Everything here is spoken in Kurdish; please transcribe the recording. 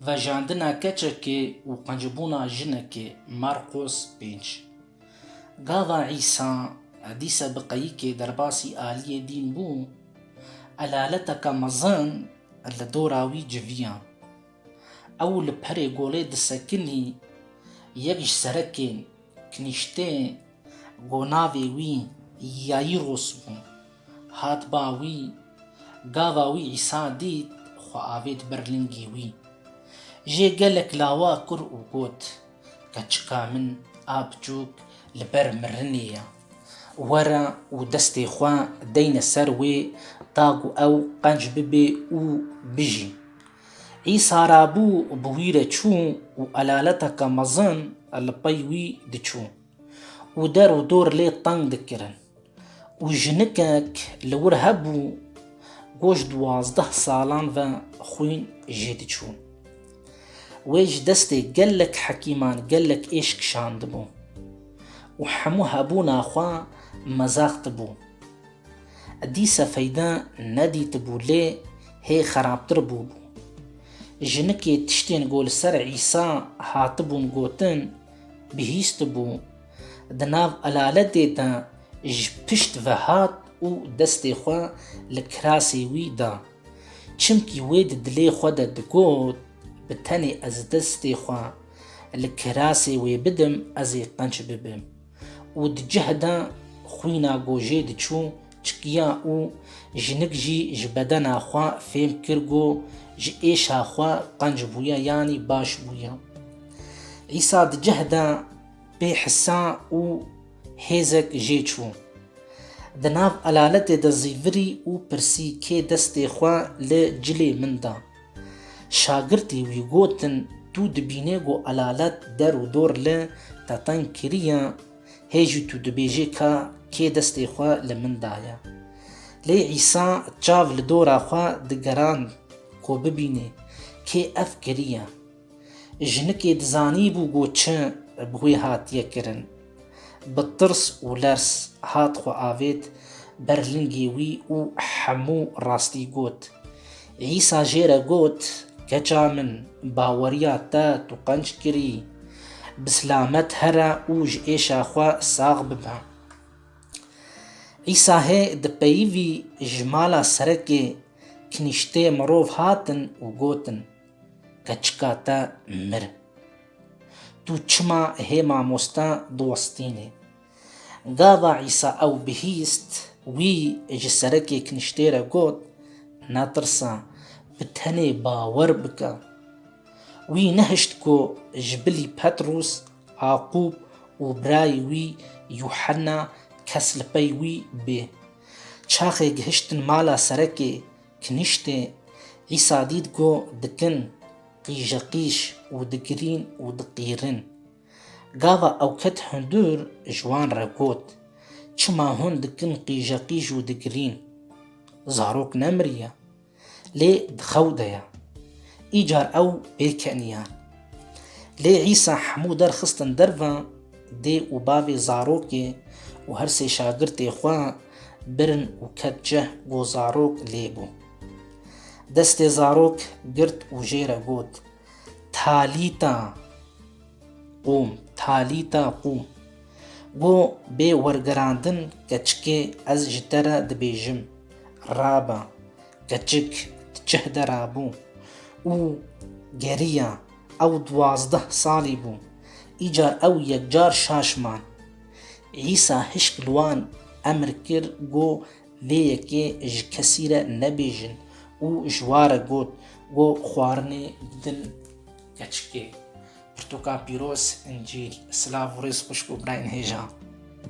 Vejandina keçekê û qencbûna jinekê, Marqos pênc. Gava Îsa dîsa bi qeyikê derbasî aliyê dîn bû, elaleteke mezin li dora wî civiya. Ew li perê golê disekinî, yek ji serekên kinîştê ku navê wî Yaîros bû. Hat ba wî, gava wî Îsa dît, xwe avêt ber lingî wî. Jê gelek lawa kur û got, Keçika min a biçûk li ber mirinê ye. Were û destê xwe deyne ser wê ta ku ew qenc bibe û bijî. Îsa rabû bi wî re çû û elaleteke mezin li pey wî diçû. û der û dor lê teng dikirin û jinikek li wir hebû goş duwazdeh salan ve xwîn jê diçû. Wê ji destê gelek hekîman gelek êş kişandibû û hemû hebûna xwe mezextibû. Dîse feyde nedîtibû lê hê xerabtir bûbû. Jinikê tiştên ku li ser Îsa hatibûn gotin, bihîstibû, di nav elaletê de ji pişt ve hat û destê xwe li kirasê wî da. Çimkî wê di dilê xwe de digot, Bi tenê ez destê xwe li kirasê wê bidim ez ê qenc bibim. Û di cih de xwîna gojê diçû Çikiya û jinik jî ji bedena xwe fêm kir ku ji êşa xwe qenc bûye yanî baş bûye. Îsa di cih de pê hisa û hêzek jê çû. Di nav elaletê de zî virî û pirsî kê destê xwe li cilê min da. Şagirtî wî gotin, Tu dibînê ku elalet der û dor li te teng kiriye? Hê jî tu dibêjî ka kê destê xwe li min daye. Lê Îsa çav li dora xwe digerand ku bibînê kê ev kiriye. Jinikê dizanîbû ku çi bi wê hatiye kirin. Bi tirs û lers hat xwe avêt ber lingê wî û hemû rastî got. Îsa jê re got, Keça min, baweriya te tu qenc kirî, bi silamet here û ji êşa xwe sax bibe. Îsa hê di peyivî ji mala serekê kinîştê mirov hatin û gotin, Keçika te mir. Tu çima hê mamosta diwestînî? Gava Îsa ew bihîst, wî ji serekê kiniştê re got, Netirse, bi tenê bawer bike. Wî nehişt ku ji bilî Petrûs, Aqûb û birayê wî Yuhena kes li pey wî bê. Çaxê gihiştin mala serekê kiniştê, Îsa dît ku dikin qîjeqîj û digirîn û diqîrin. Gava ew ket hundir ji wan re got, Çima hûn dikin qîjeqîj û digirîn? Zarok nemiriye, lê di xew de ye. Îcar ew bê keniyan. Lê Îsa hemû der xistin derve, dê û bavê zarokê û her sê şagirtê xwe birin û ket cih ku zarok lê bû. Destê zarok girt û jê re got, Talîta qûm, talîta qûm. Got, bê wergerandin keçikê ez ji te re dibêjim, rabe. Keçik di çih de rabû û geriya. Ew duwazdeh salî bû. Îcar ew yekcar şaş man. Îsa hişk li wan emr kir, got, Lê yekê ji kesî re nebêjin û ji wa re got, Go xwarinê bidin keçikê. Pirtûka pîroz, încîl, silav û rêz xwişk û birayên hêja.